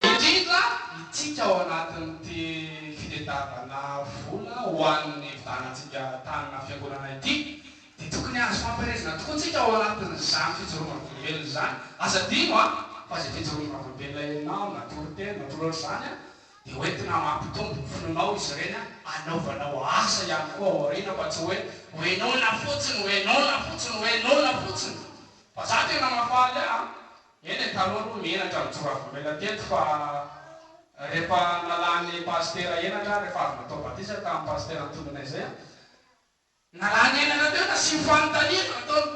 Indrindra itsika ao anatin'ity fitedavana vola ho an'ny hividianantsika tanana fiangonana ity dia tokony azo fampielezana tokoa tsika ao anatin'izany fijoroana vavolombelona izany. Aza adino an! fa izay fijoroana vavolombelona henonao na toriteny na toro ohatr'izany an! dia ho entina mampitombo ny finoanao izy ireny an! anaovanao asa ihany koa ao aoriana fa tsy hoe ho henoina fotsiny, ho henoina fotsiny, ho henoina fotsiny! Fa za tena mahafaly ahy an! Eny e, taloha aloha ny henatra no tsy mba volamena teto fa rehefa nalan'ny pasitera henatra, rehefa avy natao batisa tamin'ny pasitera nitondranay izay an, nalany henatra teo nasiany fanontaniana nataony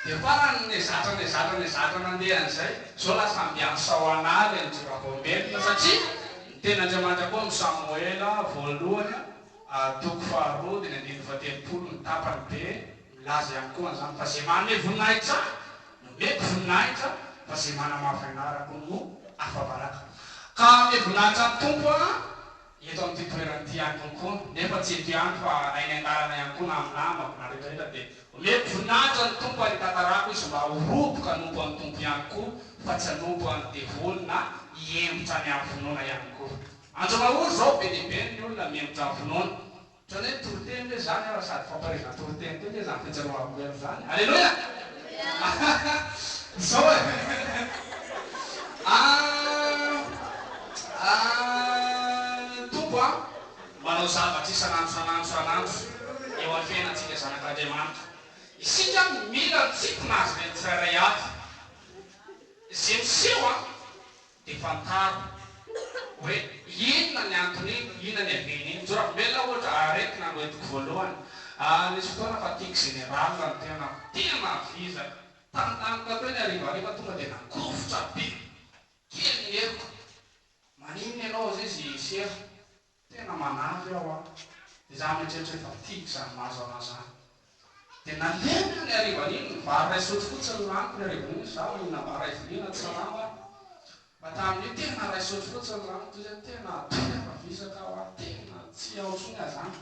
dia farany nezatra nezatra nezatra nandeha an'izay, izao lasa andiany saoanary an'i Joravaombelona satria ny tenin'Andriamanitra koa amin'ny Samoela voalohany an, toko faharoa dimy ambin'ny fahatelopolo ny tapany be, Milaza ihany koa an'izany fa izay manome voninahitra Ahy, nomeko voninahitra, fa izay manamafy an'Ahy raha koa no afa-baraka. Ka hanome voninahitra ny Tompo Aho eto amin'ity toerana ity ihany kokoa, nefa tsy eto ihany fa na eny an-dalana ihany koa na amin'ny namako na rehetrarehetra, dia omeko voninahitra ny Tompo ary hitantarako izy mba ho roboka hanompo an'ny Tompo ihany koa fa tsy hanompo an'ny devoly na hihembotra any amin'ny finoana ihany koa. Andromahory izao be dia be ny olona mihembotra amin'ny finoana. Otrany hoe toriteny ve zany aho raha sady fampaherezana toriteny koa ve zany fijerohako heno zany? Aleloia! Zao e! Aahh Tompo a! Manao zavatra isan'andro isan'andro isan'andro eo amin'ny fiainantsika zanak'Andriamanitra. Isika mila ny tsipona Azy ireny tsirairay avy. Ze miseho a! Dia fantaro hoe inona ny anton'iny, inona ny havian'iny. Ny Jorambela ohatra, aretina no entiko voalohany. Nisy fotoana fa tiako général ny tenako, tena vizaka. Tantaniko teo ny harivariva tonga dia nagovitra be kely ny heriko. Maninona ianao hozy izy i Sera. Tena manavy aho an! Izaho mieritreritra hoe efa tiako izany mahazo anao izany. Dia nalemy aho ny harivan'iny, ny vary iray sotro fotsiny no laniko ny harivan'iny, izaho mihinana vary iray vilia na tsarama aho. Fa tamin'io tena iray sotro fotsiny no laniko, toy izay tena be afa visaka aho ary tena tsy ao intsony aho izany.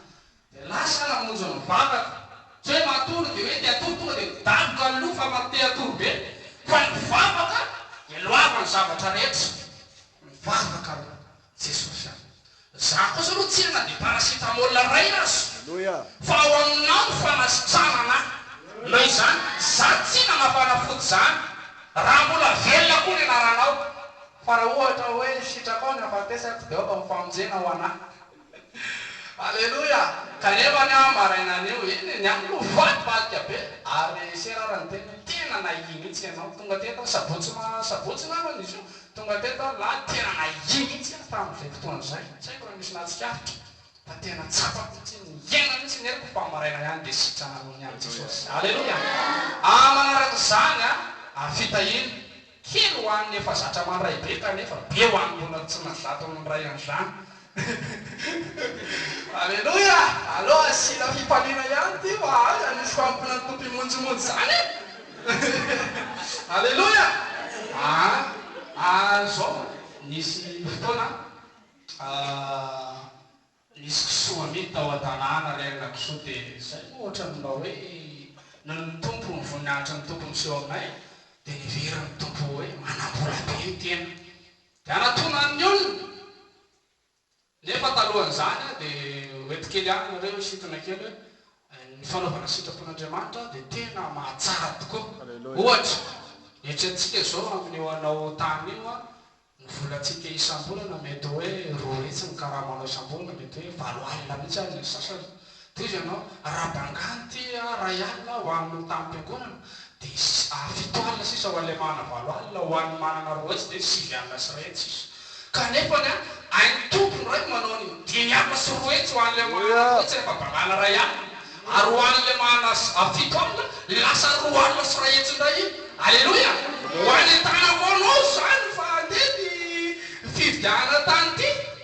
Dia lasa aho namonjy ny vadako, tsy hoe matory dia hoe te hatory tonga dia midaboka ny loha fa mba te hatory be, fa ny vavaka dia loava ny zavatra rehetra. Mivavaka aloha. Jesosy a! Za kosa aloha tsia na dia paracetamol iray aza fa ao aminao ny fanasitranana a! Noho izany za tsia nanao fanafody izany raha mbola velona koa ny anaranao fa raha ohatra hoe sitraka ao ny hafatesako dia aoka ho famonjena ho anah. Aleloia! Kanefa ny ahy maraina anio iny ny ahy no faty vadika be ary sera ary niteny hoe tena nahia mihitsy ianao tonga teto aho sabotsy ma sabotsy ngambany izy io Tonga teto aho lany tena nahia mihitsy aho tamin'izay fotoana izay, tsy haiko raha nisy nahatsikaritra fa tena tsapako mihitsy ny hiainana mihitsy ny heriko fa maraina ihany dia sitranareo niany Jesosy. Aleloia! Aah manaraka izany a! Ary fitahiana, kely ho an'ny efa zatra mandray be kanefa be ho an'ny mbola tsy nazaton'ny Ray an'izany Aleloia! Aleo asiana fifaliana ihany ity fa aiza nisy fanompoana ny Tompo himonjimonjy izany e! Aleloia! Aa ary izao nisy fotoana nisy kisoa amidy tao an-tanàna re ilay kisoa dia izay moa ohatran'ny mba hoe noho ny Tompo, ny voninahitry ny Tompo miseho aminay dia niveriny ny Tompo hoe manam-bola be ny tena. Dia hanatona ny olona. Nefa talohan'izany dia ho eto kely ihany nareo hisintona kely hoe ny fanaovana sitrapon'Andriamanitra dia tena mahatsara tokoa. Ohatra, eritreretintsika izao amin'io anao tany io ny volantsika isam-bolana mety hoe roa hetsy ny karama anao isam-bolana, mety hoe valo alina mihitsy ary ny an'ny sasany. Tohizo ianao, raha bangany ity iray alina ho an'ny hotam-piangonana, dia fito alina sisa ho an'ilay manana valo alina, ho an'ny manana roa hetsy dia sivy alina sy iray hetsy sisa. Kanefa ny ain'ny Tompo indray manao ny dimy alina sy roa hetsy ho an'ilay manana roa hetsy rehefa bangana iray alina, ary ho an'ilay manana fito alina, lasa roa alina sy iray hetsy indray iny. Aleloia! Ho any an-tànako ao anao izany, fa andeha ny fifidianana tany ity.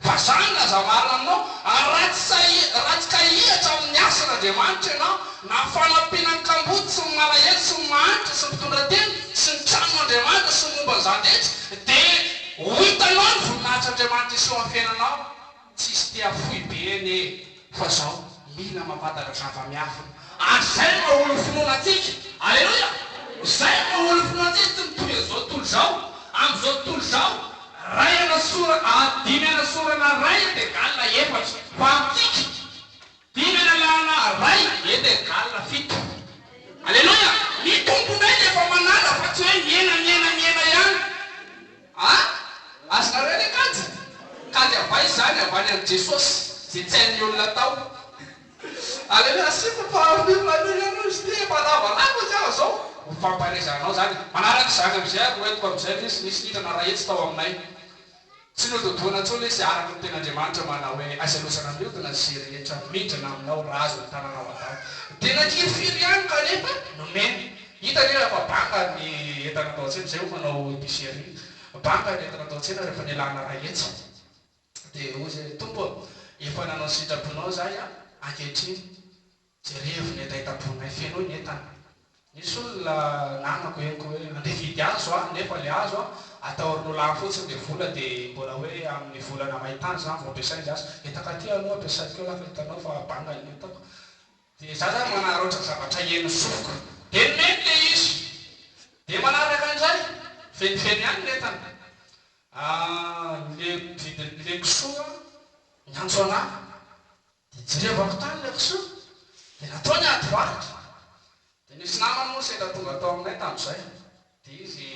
Fa zany raha za marina aminao, ary raha tsy sahy raha tsy kahihatra amin'ny asan' Andriamanitra ianao, na fanampiana ny kamboty sy ny malahelo sy ny mahantra sy ny mpitondra teny sy ny tranon' Andriamanitra sy ny momba an'izany rehetra, dia ho hitanao ny voninahitr'Andriamanitra hiseho amin'ny fiainanao, tsy hisy te hafoy be anie e. Fa zao mila mampantatra zava-miafina. Ary zay no aolo finoana antsika. Aleloia! Zay no aolo finoana antsika tsy mitovy amzao tontolo zao. Amzao tontolo zao ray anasora ary dimy anasorana ray est egal efatra. Fa amtsika dimy analana ray est egal fito. Aleloia! Ny Tompo indray dia efa manala fa tsy hoe mihena mihena mihena ihany. Ah! Azy nareo le kajy? Kajy avay izany avy any amin'i Jesosy izay tsy an'ny olona tao. Aleo nasiako parfum aloha ianao izy ity efa lavalava izy aho zao. Ho fampaherezanao izany. Manaraka izany amin'izay ary ho entiko amin'izay ilay izy. Nisy niditra narahitsy tao aminay. Tsy nododohana intsony izy araka ny Tenin'Andriamanitra manao hoe, Aiza loza namiodina izay rehetra mindrana aminao raha azo ny tananao avao. Dia nankiry firy ihany kanefa nomeny. Hita anie fa banga ny entana atao an-tsena, izay hoy manao epicerie, banga ny entana atao an-tsena rehefa nialana raha etsy dia hoy izay, Tompo ô, efa nanao ny sitraponao izahay an, ankehitriny jerevo ny hetahetam-ponay, fenoy ny entana. Nisy olona nanako henoko hoe andeha hividy azo aho nefa ilay azo an, atahorin'olo hafa fotsiny ilay vola dia mbola hoe amin'ny volana may tany izany vao ampiasaina ilay azo, hetaka aty aloha ampiasaiko eo raha ka hitanao fa banga ny entako. Dia za zany manaraotra zavatra henon'ny sofiko dia nomeny le izy dia manaraka an'izay fenifeny ihany ny entana ah le vidin'ny le kisoa niantso anah dia jerevako tany le kisoa dia natao ny ady varotra dia nisy namany moa sendra tonga tao aminay tamin'izay dia izy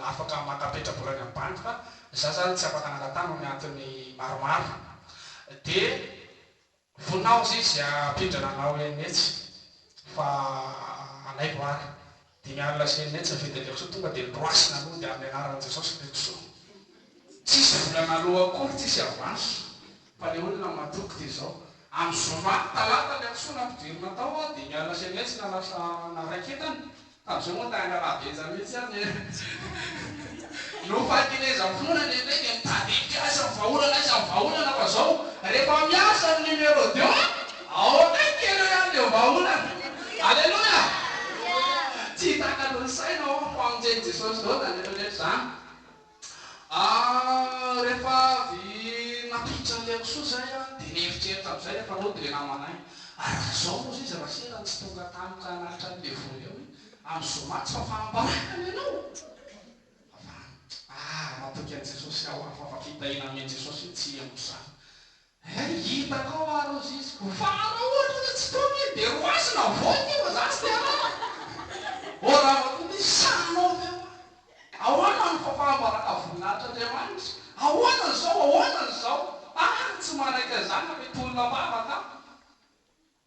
afaka maka petrabola any amin'ny banky fa za zany tsy afaka naka tany noho ny antony maromaro dia Voninahitra izy hampindrana anao eny metsy fa alaivo ary dimy alina sy eny metsy ny fidin'ilay kisoa tonga dia noroasina nody amin'ny anaran'i Jesosy ilay kisoa tsisy vola naloa akory tsisy avance fa ilay olona matoky dia izao amin'ny zoma talata ilay kisoa nampidirina tao dia ny alina sy eny metsy na lasa naraiketana Tamin'izay moa tanga raha Benja mihitsy aho ny ahy. Noho fahakelezam-pinoana ny Eveka e, tadidiko aiza ny vahaolana aiza ny vahaolana fa zao rehefa miasa ny numéro deux a, ao akaiky ianao ihany dia vahaolana. Aleloia! Tsy takatry ny saina aho fa hamonjeny Jesosy izao na ny rehetra rehetra izany. Ary rehefa avy nampiditra an'i Liakosoa izay aho dia nieritreritra amin'izay rehefa nody ilay namanay. Ary raha izao moa izay izy Rasera no tsy tonga tany ka nalitra an'i Devoly eo hoe amin'ny zoma tsy fahafahambaraka ny anao? Fa fa ah! matoky an'i Jesosy aho ah! fa fa fitahiana nomen'i Jesosy io tsy henoko izany. Hay hitako ao ary ny ziziko fa anao ohatra hoe tsy tony iny dia roasina voay ty fa za tsy te harary. Ô rava koa ty sa anao ve hoa? Ahoana ny fahambara voninahitr' Andriamanitra? Ahoana ny zao? Ahoana ny zao? Ary tsy manaiky an'izany na mety olona am-bavaka aho.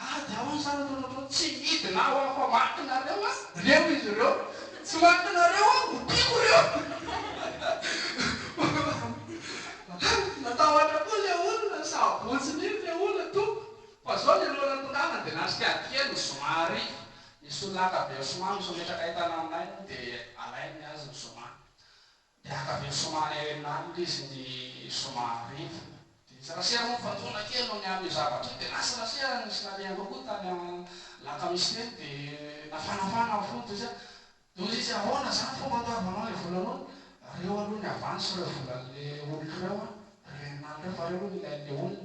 Ady aho ny zanako nataony tsy midina aho aho fa maty nareo a! Reo izy ireo tsy maty nareo aho ho tiako reo! Natahotra koa le olona sa abotsiny iny le olona tompoko? Fa zao le loha nantonganany de nandrika ady kely ny zoma ary nisy olona ankabeazsoma misometraka entana aminay moa de alainy ny azy ny zoma Miankavia somary herinaratra izy ny zoma hariva. Dia nisy rasera moa fantsona kely noho ny amin'io zavatra io dia lasa rasera nisy nalehanao koa tany alakamisy teny dia nafanafana ny fo toy izay toy izay izy ahoana izany fomba andoavanao ilay vola noana reo aloha ny avance ireo volan'ilay oloko ireo an ireo erinaratra ireo fa reo aloha ny ilain'ilay olona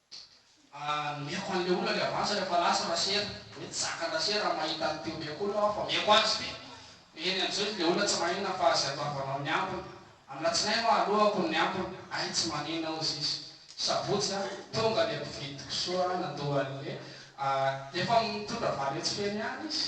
Mihaino an'ilay olona le avance rehefa lasa Rasera, hoe tsy zakan'i Rasera raha mahita an'i Teo mihaiko olona aho fa mihaiko azy be. Mihaino an'izao izy le olona tsy maheno na fa izay ataovanao ny ambiny. Amin'Alatsinainy hoa aloako ny ambiny, hay tsy manina hozy izy. Sabotsy a, tonga le mpividy kisoa nandoa an'le, efa mitondra valihatsy feno ihany izy.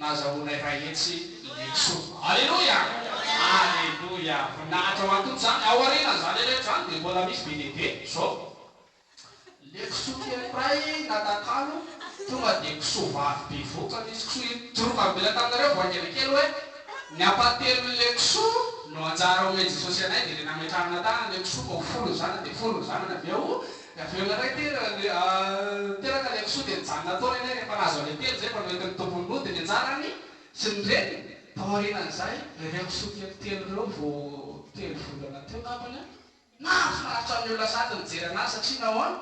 Nazahoanay iray hetsy i Jesoa. Aleloia! Aleloia! Voninahitra ho an'i Tompo izany. Ao aorianan'izany rehetra izany dia mbola misy be dia be izao. Ilay kisoa kely iray natakalo, tonga dia kisoa vavy bevohoka nisy kisoa hidoroka mivela taminareo vao haingana kely hoe, ny ampahatelon'ilay kisoa no anjara omen'i Jesosy anay dia ilay nametrahana tanana ilay kisoa ka ho folo ny zanany dia folo ny zanany avy eo. Dia avy eo indray ity teraka ilay kisoa dia nijanona tao ilay rehefa nahazo an'ilay telo izay efa noentin'ny tompony roa dia nianjara ny sy ny reniny taorianan'izay dia ireo kisoa kely telo ireo vao telo volana teo angambany an! Nahafinaritra ny olona sady nijery an'azy satria nahoana?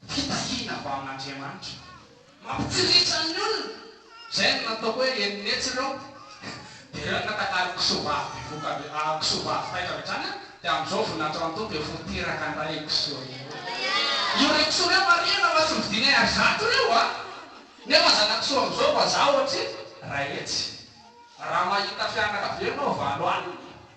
Fitahiana avy amin'Andriamanitra. Mampitsiriritra ny olona! Izay no nataoko hoe eny netsy ireo. Dia ireo no natakariko kisoa vavy bevoka avy ah, kisoa vavy taitra avy hatrany an! Dia amin'izao voninahitry Rantoa dia ho teraka indray io kisoa io. Io rey kisoa reo marihina fa tsy mividianay ary zato reo a! Nefa zana-kisoa amin'izao vazaha ohatry Raetsy. Raha mahita fianakavianao valo alina.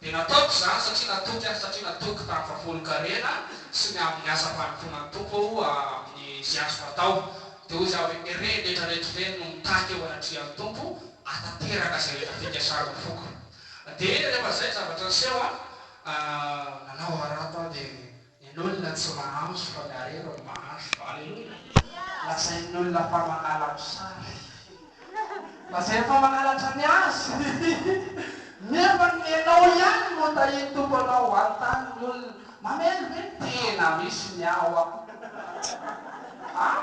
Dia nataoko izany satria natoky aho, satria natoky tamin'ny fahafolonkarena sy ny amin'ny asam-panompoana ny Tompo aho amin'ny izay azoko atao. Dia hoy Izaho, Ve re ny rehetra reto ve no mitaky eo anatrehan'ny Tompo hahatanteraka izay rehetra fikasany ny foko? Dia rehefa izay ny zavatra niseho, nanao harato aho dia. Ny olona tsy mahanso fa ny harena no mahanso. Aleloia! Lazain'ny olona fa manala mosary. Lazainy fa mangalatra ny azy. Nefa ny nenao ihany no tahian'ny Tompo anao. Hanontany ny olona, Mamely ve ny tena misy ny ahy hoa? An?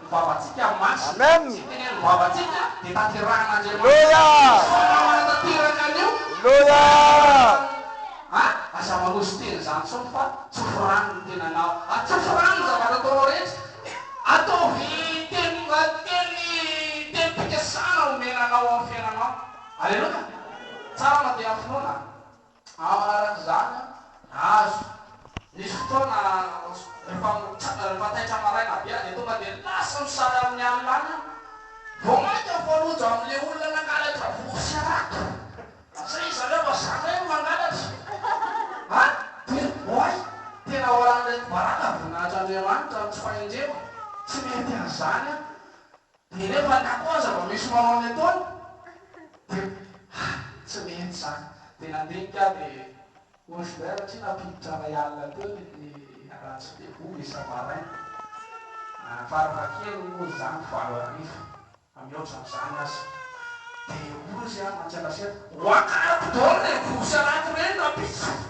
Vavantsika masina Amen. sy teneno vavantsika dia tanterahan'Andriamanitra Aleloia. Sao nama hanatanteraka an'io Aleloia. Fa aza manosy tena izany intsony fa tsofy rano ny tenanao Atsofy rano ny zavatra ataonao rehetra Ataovy teny teny tenim-pikasana omena anao amin'ny fiainanao Aleloia Tsara mandeha amin'ny finoana. Ao anatin'izany aza misy fotoana rehefa rehefa taitra maraina be dia tonga dia lasa misara amin'ny alina any aho vao mainka mifanojo amin'ilay olona nangalatra vovo sy harato satria ry zareo mba zandriny no mangalatra a! dia oay! tena ao anatin'ireto baraka voninahitr'Andriamanitra no tsy fahendrena, tsy mety an'izany aho. Dia rehefa angatao ny zava-misy ho anao ny ataony dia hay tsy mety izany. Dia nandinika ahy dia hoy Joubert satria nampiditra iray alina teo ny Andranjy Fehibory isa-maraina. Ary farafahakeliny moa izany valo hariva fa mihoatra an'izany aza. Dia hoy izy ahy, Matianasera, ho akariko daholo ilay voa sy alaky ireny rahampitso.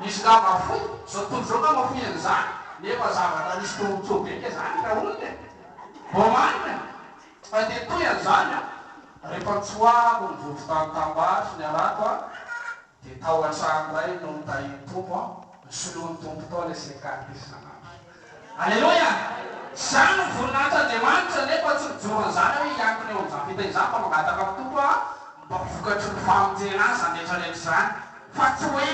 Misy nga mafoy zao tontolo zao nga mafoy an'izany nefa zavatra nisy tombontsoa be nga zany ka olona e! Vao marina e! Fa dia toy an'izany an! Rehefa nitsoahako ny vovon-tany Tambara sy ny Harato an! Dia tao an-trano iray no nitahian'ny Tompo an! Ny soloan'ny Tompo tao ilay seha-kary isan'andro. Aleloia! Izany no voninahitr'Andriamanitra, nefa tsy mijoro an'izany aho hoe hiankina eo amin'izany fiteny izany fa mangataka amin'ny Tompo aho mba ho vokatry ny famonjena ahy izany rehetra rehetra izany fa tsy hoe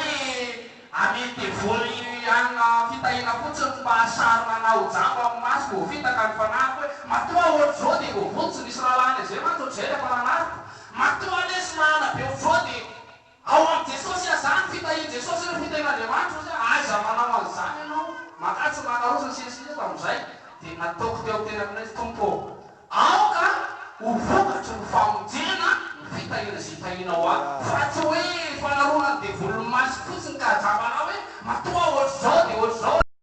amen'i devoly hanina fitahina fotsiny mba hasarona anah ho jamba amin'ny masoko vao vita ka ny fanahiko hoe matoa ohatr'izao dia voavonjy nisy rahalahy any Azia mantsy ohatr'izay ilay mpananariko matoa lesy mahana be ohatr'izao dia Ao amin'i Jesosy aza ny fitahian'i Jesosy ireo fitahian'Andriamanitra ozy a, aiza manao an'izany ianao, makatsy ny makaroso ny sisa sisa tamin'izay dia nataoko teo an-tenako indray ny Tompo ô. Aoka ho vokatry ny famonjena ny fitahiana izay tahianao ahy fa tsy hoe fanaronan'ny devoly ny masoko fotsiny ka ajamba anao hoe matoa ohatr'izao dia ohatr'izao.